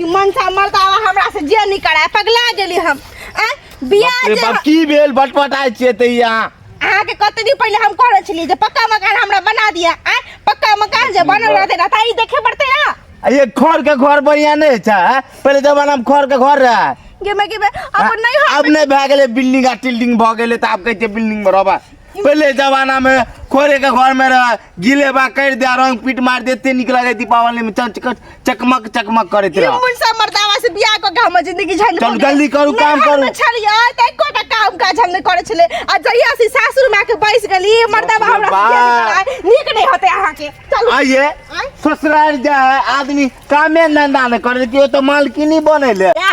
ई मनसा मरतावा हमरा से जे नहीं कराय पगला गेली हम आ बियाह बाप रे जे बाप, की भेल बटपटाइ छियै तऽ यहाँ अहाँ के कते दिन पहले हम कहले छलिए जे पक्का मकान हमरा बना दिया आ पक्का मकान जे बनल रहते ना ताई देखे पड़ते ना आ ये घर के घर बढ़िया नहीं छै आ? पहिले जमाना में घर के घर रहे गे मैं गे मैं अब नहीं हो अब नहीं भए गेलै बिल्डिंग आ टिल्डिंग भऽ गेलै तऽ आब कहै छै बिल्डिंग में रहबा पहिले जमाना में खोरे के घर में रहे गिले बा कर दे रंग पीट मार देते निक लगे दीपावली में चक चक- चकमक चकमक करत ई रह मुनसा मर्दावा से बियाह क के हमर जिंदगी झंड चल जल्दी करू, काम करू। छलिए त एको टा काम काज हम नै करै छले आ जहिया से सासुर में आके बैस गेली मर्दावा ससुर हमरा बा। बियाह करा- नीक नै होते अहाँ के चलू आइए आँय? ससुराल जा है आदमी कामे धंधा न करे कि वो तो मालकिनी बने ले या,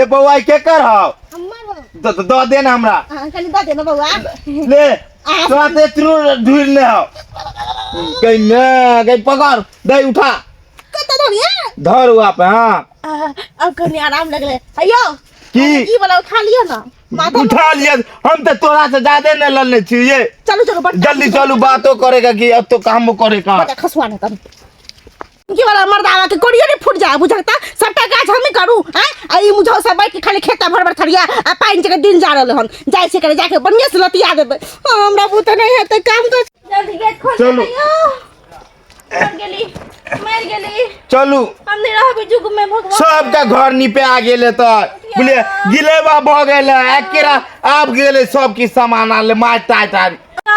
ए बौआ ई के कर हौ हमर हो द- द- दऽ दे ना हमरा अहाँ कनी दऽ दे ने बौआ ले तोरा ते त्रू ढूर ले हौ गई ने गई पकड़ दे उठा कतऽ धनिया धर हुआ पे हाँ आह, अब कनी आराम लगले अयो की? ई वाला उठा लियो ना माथा में- उठा लिया हम तो तोरा से ज्यादा नहीं लड़ने चाहिए चलो चलो बट जल्दी चलू बातो करेगा कि अब तो काम करे का बट खसवा ना तब की वाला मर्दावा के कोड़ियो ने फूट जाए बुझाता सबटा काज हमें करू हैं आ ई मुझौ सब बैठ के खाली खेता भर भर थरिया आ पानी जगह दिन जा रहल हन जाय से करे जाके बढ़िया से लतिया देबे हाँ, हमरा बुत नहीं है तो काम कर जल्दी गेट खोल चलू। भैया मर गेली मर गेली चलू हम नहीं रहबे जुग में भगवान सबका घर निपे आ गेले त बुझले गिलेबा भ गेले एकेरा आब गेले सबके सामान आले मार टाट आर आ,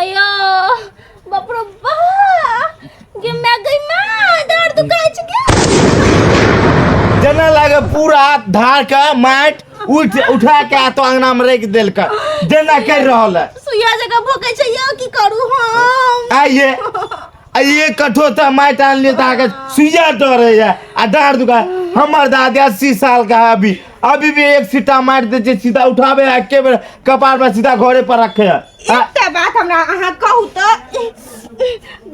अयो बाप रे बा गे मैं गई मां दर्द दुखाई छ के जना लागे पूरा हाथ धार के माट उठ उठा के आ तो अंगना में रख देल का जना कर रहल है सुइया जगह भोके छै यो की करू हम आइए आ ये कठो त माइट आन लिए ता के सुइया डरे या आ डार दुका हमर दादी 80 साल का है अभी अभी भी एक सीटा मार दे जे सीधा उठावे है के बेर कपार में सीधा घरे पर रखे है आ, एकटा बात हमरा अहाँ कहू तऽ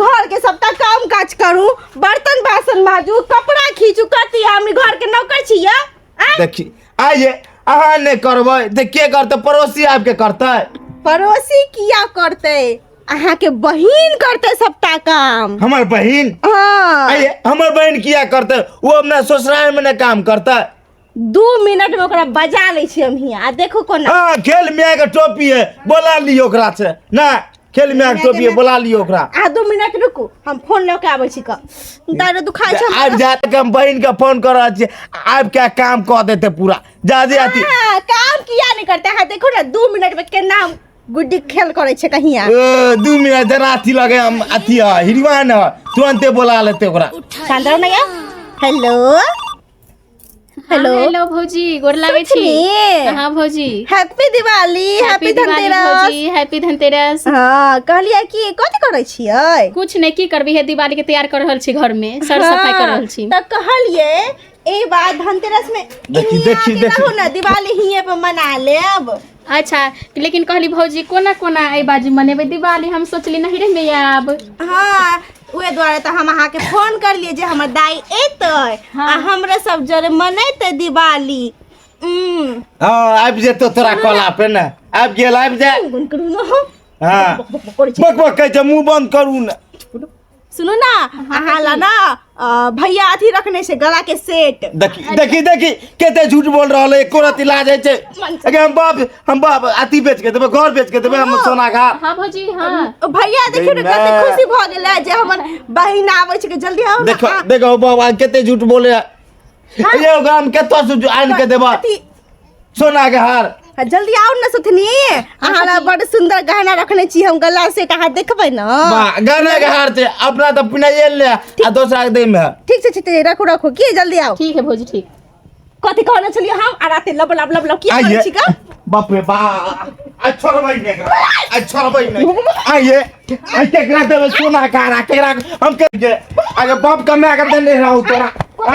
घर के सबटा काम काज करू बर्तन बासन माजू कपड़ा खींचू कथी हमनी घर के नौकर छी या आँय? देखी आइए अहाँ नहीं करबै ते के करते पड़ोसी आपके करते पड़ोसी किया करते अहाँ के बहिन करते सबटा काम हमर बहिन हाँ अरे हमर बहिन किया करते वो अपना ससुराल में ना काम करता दू मिनट में ओकरा बजा ले छी हम हियाँ आ देखो कोना हाँ खेल मिया के टोपी है बोला लियो ओकरा से ना खेल मिया के टोपी है बोला लियो ओकरा आ दू मिनट रुकू हम फोन लऽ के आबै छी क दारू दुखाइ छै आबि जात के हम बहिन के फोन कर रहल छियै आबि के काम कऽ देते पूरा जा जे अथी हाँ, काम किया नहीं करते हैं देखो ना दू मिनट में केना हम गुड्डी खेल करे छे कहिया ए, दू मिनट जरा अथी लगे हम अथी है हिरवान है तुरंते बोला लेते ओकरा शांत रहो ना यार हेलो हेलो हेलो भौजी गोर लागै छी सुथनी हाँ भौजी हैप्पी दिवाली हैप्पी दिवाली धनतेरस भौजी हैप्पी धनतेरस हाँ कहलिए कि कथी करे छियै कुछ नहीं की करबी है दिवाली के तैयार कर रहल छी घर में सर सफाई कर रहल छी तो कहलिए ए बात धनतेरस में देखी, इनिया देखी, के देखी। कहू ना दिवाली हिये पे मना लेब अच्छा लेकिन कहली भौजी कोना कोना एहि बाजी मनेबै दिवाली हम सोचली नहीं रे मैया आब हाँ उहे दुआरे तऽ हम अहाँके फोन करलियै जे हमर दाई एतै आ हमरा सब जरे मनैतै दिवाली उम्म, हाँ आबि जेतो तोरा कोला पे ने आबि गेल आबि जा गुनगुन करू ने हम। हाँ बक बक करै छै मुंह बंद करू ने सुनू ना हाँ, अहाँ ला ना अ, भैया अथी रखने छै गला के सेट देखी देखी देखी कते झूठ बोल रहल है एको रति लाज है छै अगे हम बाप हम बाप अति बेच के देबे घर बेच के देबे हम सोना खा हाँ भौजी हाँ भैया देखियो ने कते नहि। खुशी भऽ गेलै जे हमर बहिन आबै छै कि जल्दी आउ ना देखो देखो बाबा कते झूठ बोले है ये गाम कतौ से जो आन के देबा अथी सोना के हार आ, जल्दी आउ ने सुथनी अहाँ ला बड़ सुंदर गहना रखने छी हम गला से कहा देखबै न वाह, गहना के हार छै अपना तऽ पिना ये ले आ दोसरा के दे में ठीक छै ठीक छै रखू रखू की जल्दी आउ ठीक है भौजी ठीक कथी कहने छलियै हम आ राते लब लब लब लब की आइए। करै छी का बाप रे बा आ छोड़बै ने एकरा, आ छोड़बै ने आइए आ केकरा देबै सोना के हार आ केकरा हम के आगे बाप कमे आगे देने रहौ तोरा आ,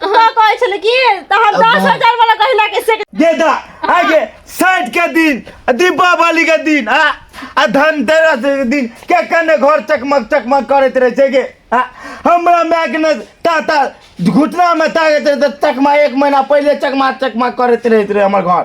तो कहै छले कि त हम 10000 वाला गहना के सेट दे दा आगे साइड के दिन दीपावली के दिन आ आ धनतेरस के दिन के कने घर चकमक चकमक करत रहे छै के आ हमरा माय के ने ताता घुटना में ताकत रहे त चकमा एक महीना पहले चकमा चकमा करत रहत रहे हमर घर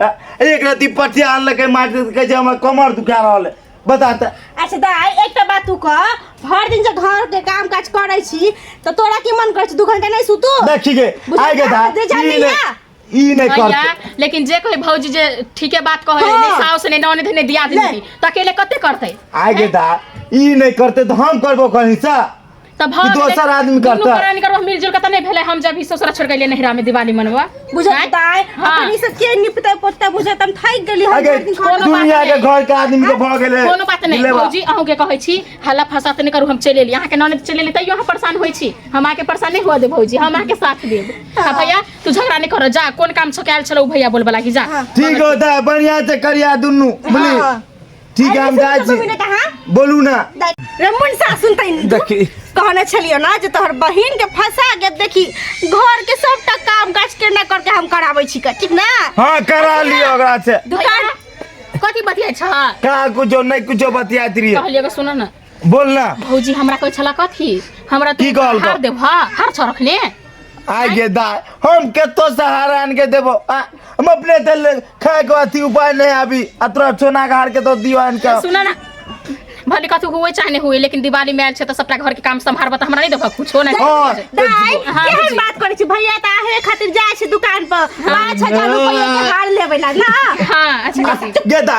एक राति पटिया आनलकै मारि देलकै कहै छै हमरा कमर दुखा रहल है बता तऽ अच्छा दाइ एकटा बात तू कह भरि दिन जे घर के काम काज करै छी तऽ तोरा की मन करै छै दू घंटा नहि सुतू देखी गे बुझलियै? आइ गे धा जे जान ई लिअ। नहि ई नहि भैया करतै लेकिन जे कोई भौजी जे ठीके बात कहै हाँ। ने साउस ने नौने धने दिया ले। देनी तऽ अकेले कते करतै आइ गे धा ई नहि करतै तऽ हम करबो कहीं से तऽ भऽ ई दोसर गेलै। आदमी दुनू करतै। प्राणी करबो मिल जुल के तऽ नहि भेलै हम जब ई ससुरा छोड़ के एलियै नहिरा में दिवाली मनबऽ बुझल आँय? ताय हाँ। अपन ई सब के निपते पोते बुझे तम थाकि गेली हम अगे भरि दिन कोनो खाना बात दुनिया के नहीं। घर के आदमी के भऽ गेलै कोनो बात नहि लेबा। भौजी अहूँ के कहै छी हल्ला फसा तऽ नहि करू हम चलि एलियै अहाँके ननद चलि एलियै तैयो अहाँ परेशान होइ छी हम अहाँके परेशान नहि हुआ देब भौजी हम अहाँके साथ देब आ भैया तू झगड़ा नहि करऽ जा कोन काम छौ कयल छलौ भैया बोलबला कि जा ठीक होता है बढ़िया से करिया दुनू बुझली हाँ। ठीक हम जाइ छी मिले कहाँ बोलू ना रे मुनसा सुनते देखी कहने छलियो ना जे तोहर बहिन के फंसा के देखी घर के सबटा काम काज के ना करके हम कराबै छी का ठीक ना हां करा लियो ओकरा से दुकान कथी बतिया छ का कुछो नहीं कुछो बतियात रहिए कहलिए सुन ना बोल ना भौजी हमरा कोई छला कथी हमरा की तू कहल हार गप? देब हां हार छ रखने आइ गे दा हम केतो सहारा आन के देबो आ, हम अपने से ले- खाए के अथी उपाय नहीं आबी आ तोरा चोना के हार के तो दियो आन के सुना ना भले कथू हुए चाहे नहीं हुए लेकिन दिवाली में आयल छै त सबटा घर के काम संभारब त हमरा नहीं देबा कुछो नहीं हाँ, दाई हाँ, केहन बुझी। बात करै छी भैया त आहे खातिर जाइ छै दुकान पर पाँच हजार रुपैया के हार लेबै ला ना हां अच्छा काकी गे दा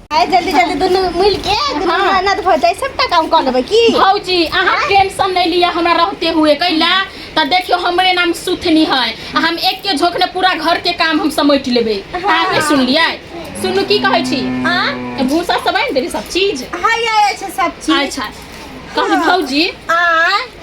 आइ जल्दी जल्दी दुनू मिल के दुनू ननद भऽ जाए सबटा काम कऽ लेबै की भौजी अहाँ टेंशन नहीं लिया हमरा रहते हुए कैला तो देखियो हमरे नाम सुथनी है आ हम एक के झोंक ने पूरा घर के काम हम समेट लेबे अहाँ के सुन लिया सुनू की कहै छी हां भूसा सब आनि देली सब चीज हाय आय छै सब चीज अच्छा कहली भौजी आ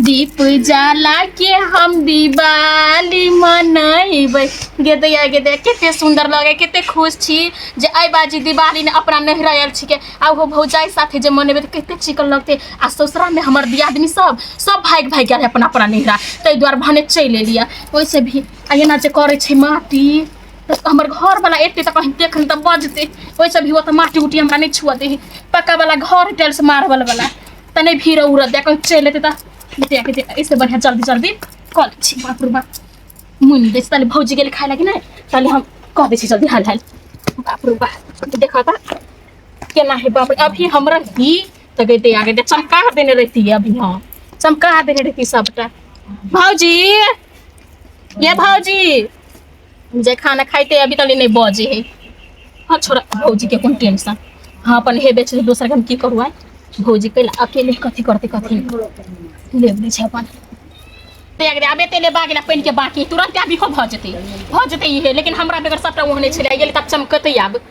दीप जाला के हम दिवाली मनैबै गे दैया गे दैया कते सुन्दर लगे कते खुश छी जे आइ बाजी दिवाली ने अपना नहरा आयल छिके आ ओहो भौजाइ साथे जे मनेबै तऽ कते चिकन लगतै आ ससुरामे हमर दियादनी सब सब भागि भागि गेल अपना अपना नहरा ताहि दुआरे भने चलि एलियै ओहिसँ भी आ एना जे करै छै माटी तऽ हमर घरवला एतै तऽ कहीं देखन तऽ बजतै ओहिसँ भी ओ तऽ माटी उटी हमरा नहि छुअ देही पक्कावला घर टाइल्स मार्बलवला तने भीड़ उड़ देखो चल एते त देख के देख इससे बढ़िया जल्दी जल्दी कॉल छी बाप रे बाप मुन देस तले भौजी गेल खाए लगी ना तले हम कह दे छी जल्दी हाल हाल बाप रे बाप देखा ता केना है बाप रे अभी हमरा ही तो गई दे आगे दे चमका देने रहती है अभी हाँ चमका देने रहती सबटा भौजी ये भौजी जे खाना खाइते अभी तक नहि बजे है हँ छोड़ा भौजी के कोन टेंशन हँ अपन हे बेच दोसर के हम की करू आय भौजी कैल अकेले कथी करते कथी ले लै छै अपन तेग रे आबे तेले बाग ला पानि के बाकी तुरंत आबी हो भऽ जेतै भऽ जेतै इहे लेकिन हमरा बेगर सबटा ओहने छलै गेल तऽ चमकतै आब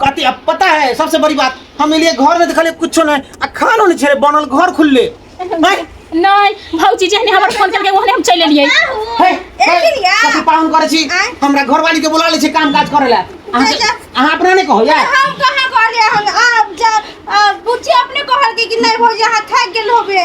कहते अब पता है सबसे बड़ी बात हम इलिए घर में देखले कुछो नहीं आ खानो नहीं छे बनल घर खुलले नहीं नहीं भौजी जहने हमर फोन करके ओहने हम चल एलिए है कथी पाहुन करे छी हमरा घर वाली के बुला ले छी काम काज करे ला अहाँ के- अहाँ अपना नहीं कहो यार हम कहाँ कहले हम आप जा बुच्ची अपने कहल कि नहीं भौजी अहाँ थक गेल होबे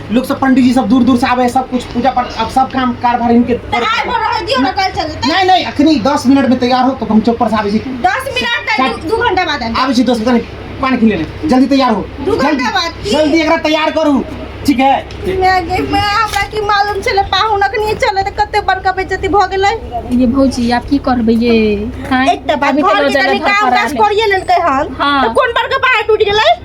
लोग सब पंडित जी सब दूर दूर से आवे सब कुछ पूजा पाठ अब सब काम कारभार इनके तैयार हो रह दियो ना कल चलते नहीं नहीं अखनी 10 मिनट में तैयार हो तो हम चौक पर से आवे छी 10 मिनट तक 2 घंटा बाद आवे छी 10 मिनट पानी पी लेने जल्दी तैयार हो 2 घंटा बाद जल्दी एकरा तैयार करू ठीक है मैं मैं हमरा की मालूम चले पाहुन अखनी चले त कते बड़का बेइज्जती भ गेलै ये भौजी आप की करबे ये एक त बात घर में तनी काम काज करिए लेलकै हन त कोन बड़का बाहर टूट गेलै